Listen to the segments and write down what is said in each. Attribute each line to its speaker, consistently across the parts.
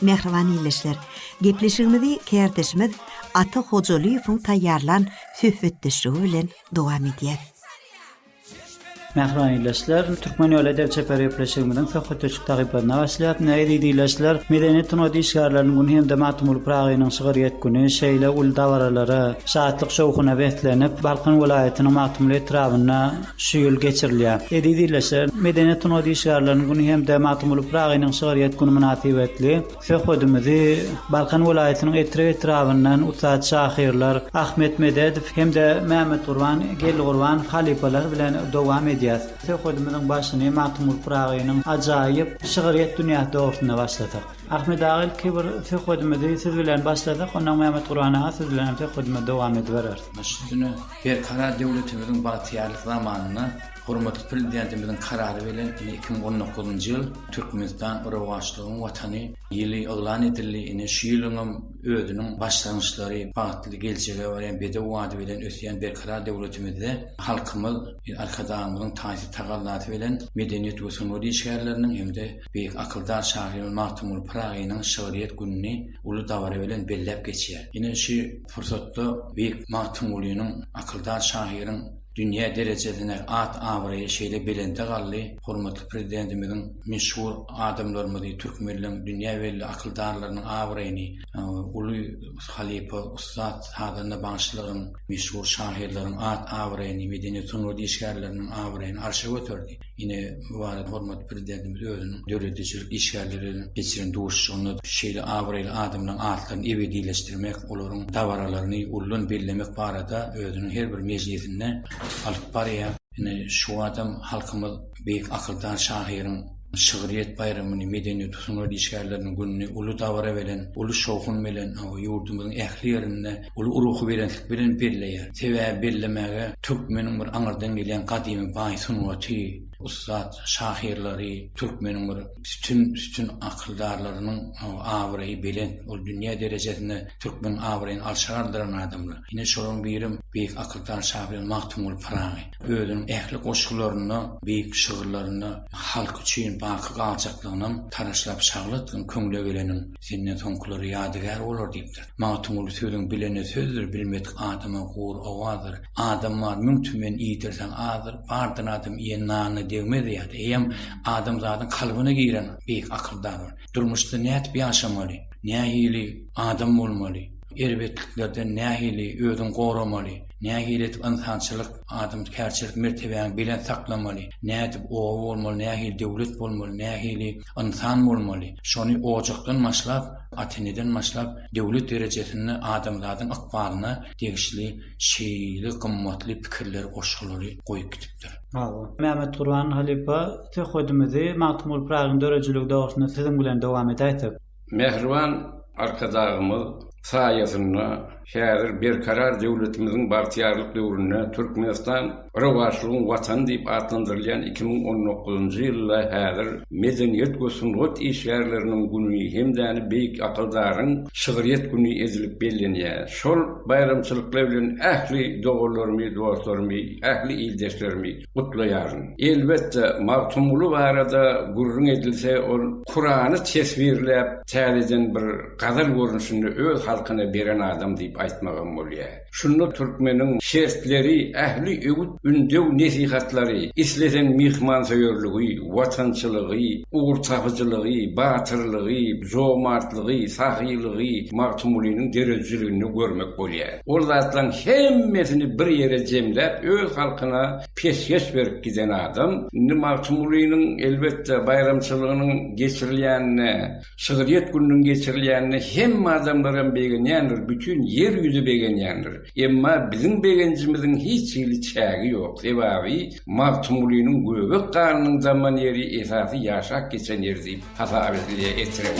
Speaker 1: Mähriban ildeşler! Gepleşigimizi kärdeşimiz Ata Hojalyýewiň taýýarlan söhbetdeşligi bilen dowam edýäs. Mähriban ildeşler! Türkmen ýoly edep çeper gepleşigimiziň söhbetdeşlik sahypasyna başlaýas. Ine, eziz ildeşler, medeni sungat işgärleriniň güni hem-de Magtymguly Pyragynyň şygyrýet güni şeýle uly dabaralara, şatlyk-şowhuna beslenip, Balkan welaýatynyň Magtymguly etrabynda şu ýyl geçirilýär. Eziz ildeşler, Medeniýet sungat işgärleriniň güni hem-de Magtymguly Pyragynyň şygryýet güni mynasybetli söhbedimizi Balkan welaýatynyň Etrek etrabyndan ussat şahyrlar Ahmet Mededow hem-de Mämmetgurban Geldigurbanow halypalar bilen dowam edýäs. Söhbedimiziň başyny Magtymguly Pyragynyň ajaýyp şygryýet dünýäsi dogrusynda başladyk. Ahmet aga, ilki bir söhbedimizi siz bilen başladyk, onnoň Mämmetgurban aga siz bilen hem söhbedimizi dowam edibereris. Baş üstüne. Berkarar döwletimiziň bagtyýarlyk zamanynda hormatly Prezidentimiziň Karary bilen ine iki müň on dokuzynjy ýyl Türkmenistan rowaçlygyň Watany ýyly yglan edildi. Ine şu ýylyňam özüniň başlangyçlary, bagtly geljege barýan bedew bady bilen ösýän Berkarar döwletimizde halkymyz Arkadagymyzyň taýsyz tagallasy bilen medeniýet we sungat işgärleriniň hem-de beýik akyldar şahyrymyz Magtymguly Pyragynyň şygryýet gününi uly dabara bilen belläp geçýär. Ine şu pursatda beýik Magtymgulynyň, akyldar şahyryň dünýä derejesine at-abraýy şeýle belende galdy, hormatly Prezidentimiziň meşhur adamlarymyzy, türkmenleň dünýä belli akyldarlarynyň abraýyny, uly halypa, ussat sazanda bagşylaryň, meşhur şahyrlaryň at-abraýyny, medeniýet-sungat işgärleriniň abraýyny arşa göterdi. Ine, bu barada hormatly Prezidentimiz özüniň döredijilik işgärleri bilen geçiren duşuşygynda şeýle abraýly adamlaryň atlaryny ebedileşdirmek, olaryň dabaralaryny uludan bellemek barada özüniň her bir mejlisinde alyp barýar. Ine, şu wagtam halkymyz beýik akyldar şahyryň şygryýet baýramyny, medeniýet-sungat işgärleriniň gününi uly dabara bilen, uly şowhun bilen ýurdumyzyň ähli ýerinde Ol ruhubelentlik bilen belleýär. Sebäbi bellemäge türkmeniň bir aňyrdan gelýän gadymy baý sungaty, ussat şahyrlary, türkmeniň bir sütün-sütün akyldarlarynyň abraýy belent. Ol dünýä derejesinde türkmeniň abraýyny arşa galdyran adamlar. Ine, şolaryň birem beýik akyldar şahyr Magtymguly Pyragy. Özüniň ähli goşgularynda, beýik şygyrlarynda halky üçin baky galjaklygyny hem taraşlap şagyl etgin köňle geleniň. Senden soňkulara ýadygär bolar diýipdir. Magtymguly Sözüň bilene sözdür, bilmedik adama gury owazdyr. Adam bar müň tümen, iýdirseň azdyr. Bardyr adam iýen nanyna degmez ýa-da eýýäm adamzadyň kalbyna giren beýik akyldar bar. Durmuşda nädip ýaşamaly, nähili adam bolmaly, erbetliklerden nähili özüňi goramaly, nähili edip ynsançylyk, adamkärçilik mertebäňi belent saklamaly, nädip oba bolmaly, nähili döwlet bolmaly, nähili ynsan bolmaly, şony ojakdan başlap, ata-eneden başlap, döwlet derejesinde adamzadyň ykbalyna degişli şeýle gymmatly pikirleri, goşgulary goýup gidipdir. Hawa. Mämmetgurban halypa, söhbedimizi Magtymguly Pyragynyň döredijiligi dogrusynda siziň bilen dowam edäýsek. Mähriban Arkadagymyz saýasynda häzir Berkarar döwletimiziň bagtyýarlyk döwründe Türkmenistan Rowaçlygyň Watany diýip atlandyrylýan iki müň on dokuzynjy ýylda häzir Medeniýet we sungat işgärleriniň güni hem-de beýik akyldaryň şygryýet güni edilip bellenýär. Şol baýramçylyklar bilen ähli doganlarymy, dostlarymy, ähli ildeşlerimi, gutlaýaryn. Elbetde, Magtymguly barada gürrüň edilse, ol Kurany teswirläp, täzeden bir gazal görnüşinde öz halkyna beren adam diýip aýtmagam bolýar. Şunda türkmeniň şertleri, ähli öwüt-ündew nesihatlary, islesen myhmansöýerligi, watançylygy, ugurtapyjylygy, batyrlygy, jomartlygy, sahylygy Magtymgulynyň döredijiliginde görmek bolýar. Ol zatlaryň hemmesini bir ýere jemläp, öz halkyna peşgeş berip giden adam. Indi Magtymgulynyň, elbetde, baýramçylygynyň geçirilýänine, şygryýet gününiň geçirilýänine hemme adamlar hem begenýändir, bütin Ýer ýüzi begenýändir. Emma biziň begenjimiziň hiç hili çägi ýok. Sebäbi Magtymgulynyň göbek ganynyň damman ýeri esasy ýaşap geçen ýeri diýip hasap edilýär Etrek.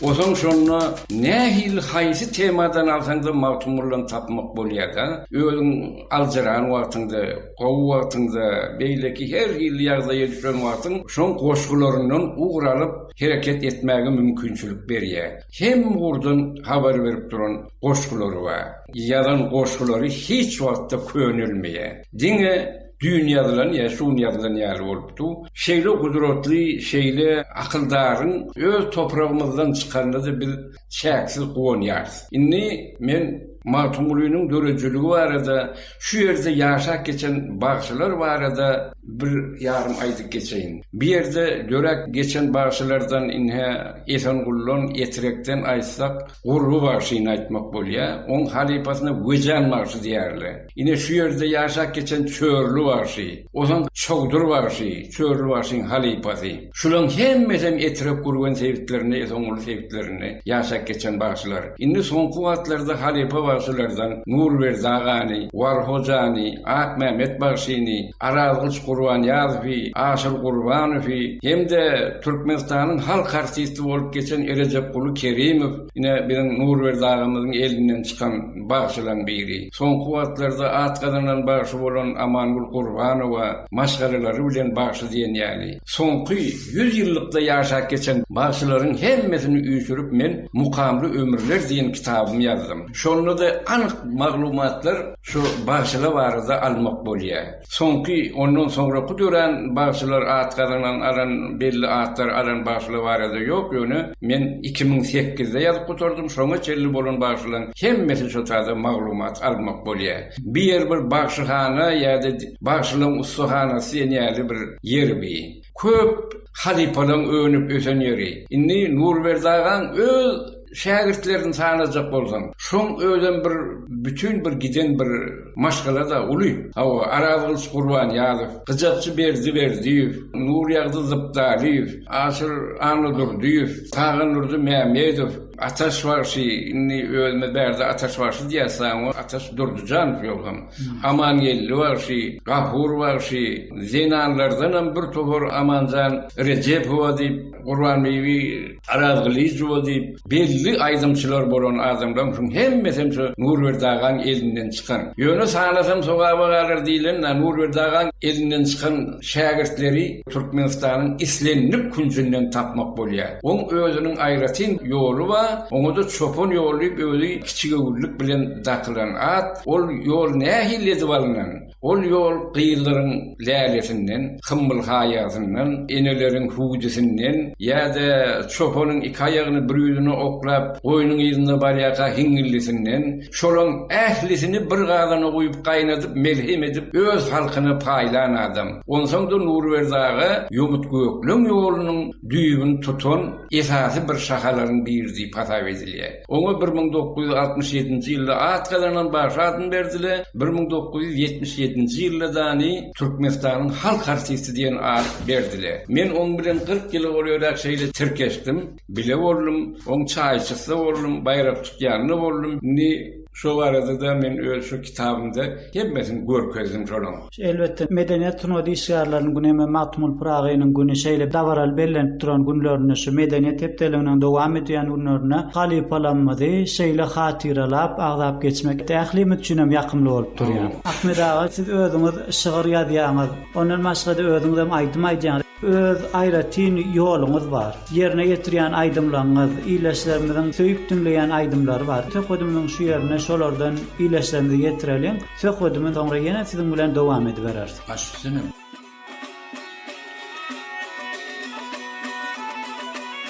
Speaker 1: Ozaň şonda nähili haýsy temadan alsaňda Magtymgulyny tapmak bolýar-da. Özüň aljyran wagtyňda, gowy wagtyňda, beýleki her hili ýagdaýa düşen wagtyň şoň goşgularyndan ugur alyp hereket etmäge mümkinçilik berýär. Hem ugurdan habar berip duran goşgulary bar. Ýazan goşgulary hiç wagtda könelmeýär. Diňe düýn ýazylan ýa şu gün ýazylan ýaly bolup dur. Şeýle gudratly, şeýle akyldaryň öz topragymyzdan çykanyna-da biz çäksiz guwanýarys. Indi men Magtymgulynyň döredijiligi barada, şu ýerde ýaşap geçen bagşylar barada bir ýarym aýdyp geçeýin. Bu ýerde döräp geçen bagşylardan ine Esenguldan, Etirekden aýtsak, Gurby bagşyny aýtmak bolýar, oň halypasyna Wejan bagşy diýýärler. Ine şu ýerde ýaşap geçen Çörli bagşy, osaň Çowdur bagşy, Çörli bagşyň halypasy. Şulaň hemmesem Etrek Gürgen sebitlerinde, Esenguly sebitlerinde ýaşap geçen bagşylar. Indi soňky wagtlarda halypa bagşylardan Nurberdi agany, Wal Hojany, Akmämmet bagşyny, Arazgylyç Gurbanýazowy, Aşyr Gurbanowy hem-de Türkmenistanyň halk artisti bolup geçen Erejepguly Kerimow, ine, biziň Nurberdi agamyzyň elinden çykan bagşylaň biri. Soňky wagtlarda at gazanan bagşy bolan Amangül Gurbanowa maşgalalary bilen bagşy diýen ýaly, soňky ýüz ýyllykda ýaşap geçen bagşylaryň hemmesini üýşürip men Mukamly ömürler diýen kitabym ýazdym. Şonda-da anyk maglumatlar. Şu bagşylar barada almak bolýa. Soňky ondan soňraky dörän bagşylar at gazanan alan belli atlar alan bagşylar barada ýok ýöne men iki müň sekizde ýazyp gutardym şoňa çenli bolan bagşylaň hemmesi şu taýda maglumat almak bolýa. Bu ýer bir bagşyhana ýa-da bagşylaň ussahanasy diýen ýaly bir ýer bi. Köp halypalaň önüp ösen ýeri. Indi Nurberdi agaň öz şägirtlerini sanajak bolsaň, şoň özem bir bütin bir giden bir maşgalada uly. Hawa, Arazgylyç Gurbanýazow, Gyjakçy Berdi Berdiýew, Nurýagdy Zypdalyýew, Aşyr Annadurdyýew, Taganurdy Mämedow, Ataş bagşy indi özüme bärde Ataş bagşy diýýäs saňa we Ataş Durdujanow ýogsam Amangeldi bagşy, Gafur bagşy, zenanlardanam bir topar Amanjan Rejepowa diýip, Gurbanbibi Arazgylyjowa diýip belli aýdymçylar bolan adamlaryň şuň hemmesem şu Nurberdi agaň elinden çykan. Ýöne sanasam sogaba galar diýlen-dä Nurberdi agaň elinden çykan şägirtleri. Türkmenistanyň islendik künjünden tapmak bolýar. Oň özüniň aýratyn ýoly bar, oňa-da çopan ýoly diýip özi kiçigöwünlik bilen dakylan at. Ol ýol nähili edip alnan? Ol ýol gyzlaryň lälesinden, hymmyl haýasyndan, eneleriň hüwdüsinden ýa-da çopanyň iki aýagyny bir ýüzüne oklap, goýnuň yzynda barýarka hiňňillisinden, şolaň ählisini bir gazana guýup gaýnadyp melhem edip öz halkyna paýlan adam. Onsoň-da Nurberdi aga ýomut-gökleň ýolunyň düýbüni tutan esasy bir şahalaryň biri diýip hasap edilýär. Oňa bir müň dokuz ýüz altmyş ýedinji ýylda at gazanan bagşy adyny berdiler, bir müň dokuz ýüz ýetmiş ýedinji ýylda dany Türkmenistanyň halk artisti diýen at berdiler. Men oň bilen kyrk ýyla golaýrak şeýle tirkeşdim. Bile boldum, oň çaýçysy-da boldum, baýrak tutýany-da boldum. Indi şo barada-da men öz şu kitabymda hemmesini görkezdim şolaň. Elbetde, Medeniýet sungat işgärleriniň güni hem-ä Magtymguly Pyragynyň güni şeýle dabaraly bellenip duran günlerinde, şu Medeniýet hepdeliginiň dowam edýän günlerinde halypalarymyzy şeýle hatyralap, agzap geçmek ählimiz üçin hem ýakymly bolup durýar. Ahmet aga, siz özüňiz şygyr ýazýaňyz, ondan başga-da özüňiz hem aýdym aýdýaňyz. Öz aýratyn ýoluňyz bar. Ýerine ýetirýän aýdymlaňňyz, ildeşlerimiziň söýüp diňleýän aýdymlary bar. Söhbedimiziň şu ýerine şolardan ildeşlerimize ýetireliň. Söhbedimi soňra ýene siziň bilen dowam edibereris. Baş üstüne.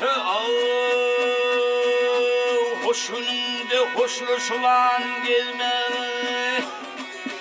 Speaker 1: He aw hoşunyňde hoşlaşylan gelme.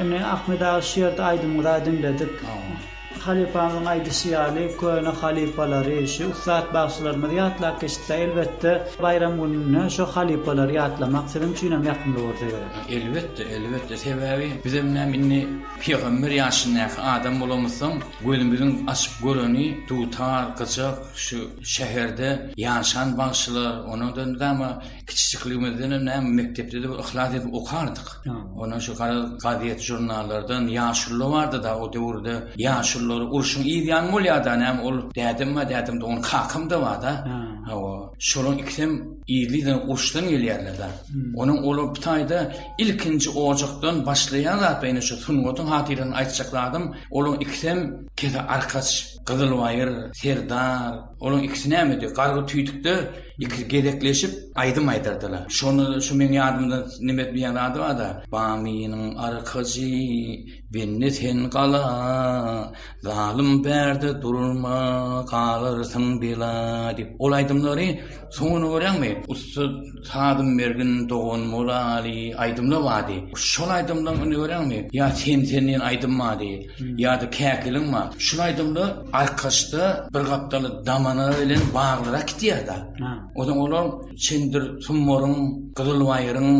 Speaker 1: Indi Ahmet aga şu ýerde aýdymyňyza diňledik. Halypamyzyň aýdyşy ýaly köne halypalary, şu ussat bagşylarymyzy ýatlap geçipdir. Elbetde baýram gününde şo halypalary ýatlamak siziň üçinem ýakymly bolsa gerek. Elbetde, elbetde. Sebäbi bizem näme indi pygamber ýaşyndaky adam bolamyzsoň, gözümiziň açyp göreni dutar, gyjak, şu şäherde ýaşan bagşylar, onadan dama Kiçijikligimizdenem näme mekdepde-de bir yhlas edip okardyk. Ondan şu gara gazet žurnallardan ýaşulylar bardy da o döwürde ýaşulylar urşuň yz ýany bolýardy näme ol dädem bar dädemde onuň kakam da bar da. Hawa. Şolaryň ikisem yzlydan urşdan gelýärler da. Onuň olar bu taýda ilkinji ojakdan başlaýan zat ýene şu sungatyň hatyradan aýtjak zadym olaryň ikisem kese arkaç Gyzylbaýyr, Serdar, olaň ikisi nämedi, gargy tüýdükde ikisi gezekleşip aýdym aýdardylar. Şonda şu meň ýadymda neme edmeýän zady bar-da, Bamynyň arkajy, bende sen gala, Zalym bärde durma, galarsyň bela diýip, ol aýdymlary Soňuny görýäňmi? Ussa sazym mergin dogan bolaly aýdymlar bardy. Şol aýdymlaryň indi görýäňmi? Ýa Sen sen diýen aýdym bardy. Ýa-da Käkiliň bar. Şul aýdymlar Arkaçda bir gapdaly Damana bilen baglyrak gidýär-de. Ozan olar Çendir Summaryň, Gyzyl baýryň,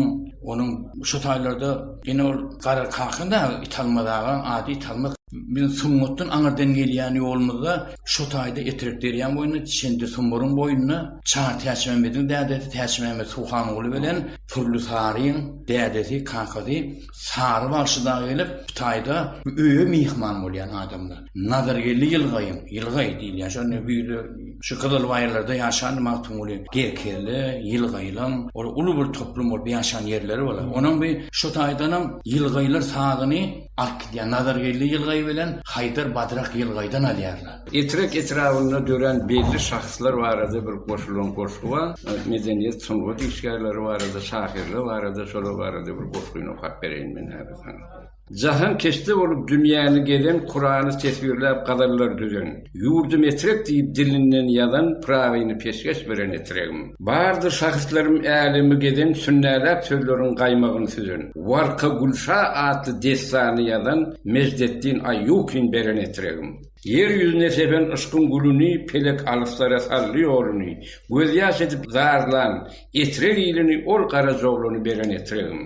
Speaker 1: onuň şo taýlarda ine ol Gara kaka dagy Italmaz aga, ady Italmaz. Biziň sungatdan aňyrdan gelýän ýolumyzda Şo taýda Etrek derýaň boýunda, Çendi sumburyň boýunda Çar Täçmämmediň dädesi Täçmämmet Suhanguly bilen Pürli Saryň dädesi, kakasy Sary bagşy dagy gelip, bu taýda öýe myhman bolýan adamlar. Nazargeldi ýylgaýyň, ýylgaý diýilýän şo indi güýzde şu Gyzylbaýyrlarda ýaşandy Magtymguly, Gerkezli, Ýylgaýylaň, olar uly bir toplum bolup ýaşan ýerleri bolar. Onuň bir şo taýdanam ýylgaýlar sazyny Arkidýa Nazargeldi ýylgaýy bilen Haýdar Badrak ýylgaýdan alýarlar. Etrek etrabynda dörän belli şahslar barada bir goşulan goşgy bar. Medeniýet, sungat işgärleri barada, şahyrlar barada, şolar barada bir goşgyny okap bereýin men häzir saňa. Jahankeşde bolup dünýäni gezen, Kurany teswirläp gazallar düzen. Ýurdum etrek diýip dilinden ýazan Pyragyny peşgeş beren etregim. Bardyr şahyslarym älemi gezen Sünnäläp sözleriň gaýmagyny süzen Warka Gülşa atly dessany ýazan Mejdetdin Aýýukin beren etregim. Ýer ýüzüne sepen yşkyň gülüni Pelek alyslara saldy ýoluny Gözýaş edip zarlan etrek ilini Ol Garajaoglany beren etregim.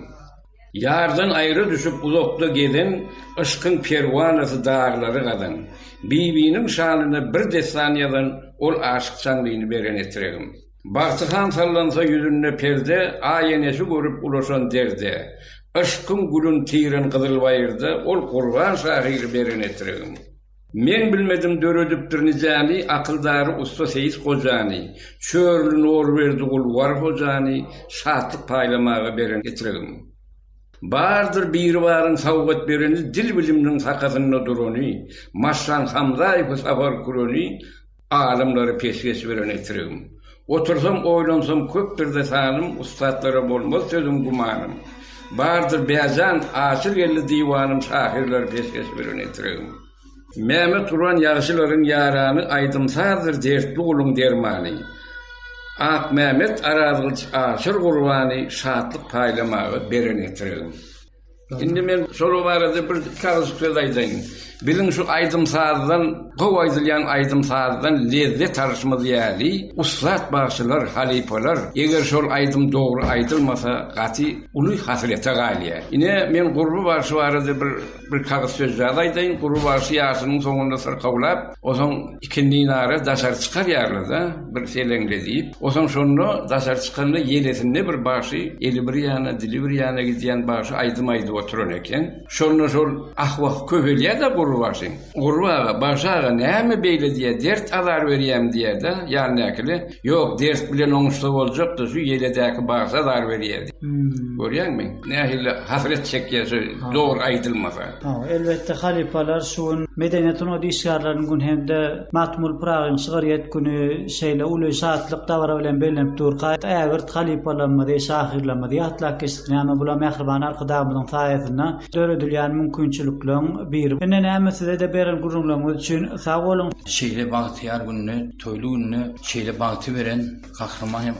Speaker 1: Ýardan aýra düşüp uzakda gezen, Yşkyň perwanasy daglary gazan. Bibiniň şanyna bir dessan ýazan, Ol aşyk Çanlyny beren etregim. Bagty han sallansa ýüzünde perde, Aý enesi görüp ulaşan derde. Yşkyň gülün tiren gyzyl baýyrda, Ol Gurban şahyry beren etregim. Meň bilmedim döredipdir nijäni Akyldary ussa Seýis gojany, Çörli Nurberdigul War hojany Şatlyk paýlamaga beren etiregim. Bardyr Biribaryň sowgat bereni Dil-bilimniň sakasynda durany, Maşşan Hamzaýewi sapar küreni, Alymlary pesgeç bilen etiregim. Otursam oýlansam köpdürde sanym Ussatlara bolmaz sözüm gümanym. Bardyr bäjan açyl geldi diwanym Şahyrlary pesgeç bilen etiregim. Mäme turan ýagşylaryň ýarany Aýdym-sazdyr dertli guluň dermany. Akmämet Arazgylyç aşyr gurbany Şatlyk paýlamaga beren etiregim. Indi men şol barada bir kagyz söz aýdaýyn. Biziň şu aýdym-sazdan, gowy aýdylýan aýdym-sazdan lezzet alyşymyz ýaly, ussat bagşylar, halypalar, eger şol aýdym dogry aýdylmasa, gaty uly hasrete galýar. Ine, men Gurby bagşy barada bir kagyz sözjaz aýdaýyn. Gurby bagşy ýaşynyň soňunda syrkawlap, Ozaň ikindi nara daşary çykarýarlar-da, bir seleňde diýip. Ozaň şonda daşary çykanda ýelesinde bir bagşy, eli bir ýana, dili bir ýana gidýän bagşy aýdym aýdyp oturan eken. Şonda şol ah-wah köpelýär-de Gurry bagşyň. Gurry aga, bagşy aga näme beýle diýýär, dert-azar berýämi diýýär-de, ýandakyly. Ýok, ders bilen oňuşsa boljakdy, şu ýeledäki bagşa zar berýärdi. Görýäňmi, nähili hasret çekýär şu dogry aýdylmasa. Hawa, elbetde, halypalar şu gün Medeniýet sungat işgärleriniň güni hem-de Magtymguly Pyragyň şygryýet güni şeýle uly şatlyk dabara bilen bellenip durka, ägirt halypalarymyzy, şahyrlarymyzy ýatlap geçdik. Näme, bular mähriban Arkadagymyzyň saýasynda döredilýän mümkinçilikleriň biri. Ine, näme, size-de beren gürrüňleriňiz üçin sag boluň! Şeýle bagtyýar günde. Toýly günde şeýle bagty beren Gahryman hem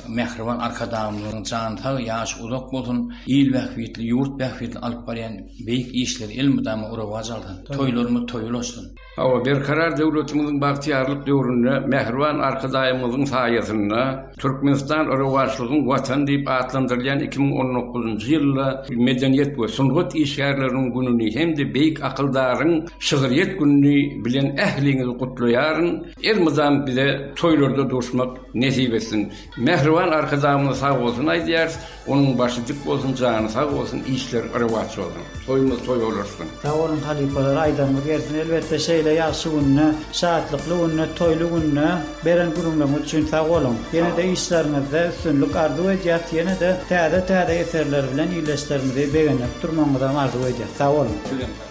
Speaker 1: mähriban Arkadagymyzyň jany sag, ýaşy uzak bolsun, il bähbitli, ýurt bähbitli alyp barýan beýik işleri elmydama rowaç alsyn. Toýlarymyz toýy ulaşsyn. Hawa, Berkarar döwletimiziň bagtyýarlyk döwründe mähriban Arkadagymyzyň saýasynda Türkmenistan rowaçlygyň Watany diýip atlandyrylýan iki müň on dokuzynjy ýylda Medeniýet we sungat işgärleriniň gününi hem-de beýik akyldaryň şygryýet gününi bilen ähliňizi gutlaýaryn. Elmydam bize toýlarda duşmak nesip etsin. Mähriban Arkadagymyza sag bolsun aýdýarys. Onuň başy dik bolsun jany sag bolsun işler rewaç bolsun toýumyz toý olasyn. Sag boluň halypalar aýdaňyz gelsin elbetde şeýle ýagşy günde şatlykly günde toýly günde beren gürrüňleriňiz üçin sag boluň ýenede işleriňizde üstünlik arzuw edýäs ýenede täze täze eserler bilen ildeşlerimizi begendirip durmagyňyzam arzuw edýäs sag boluň. Sizem sag boluň.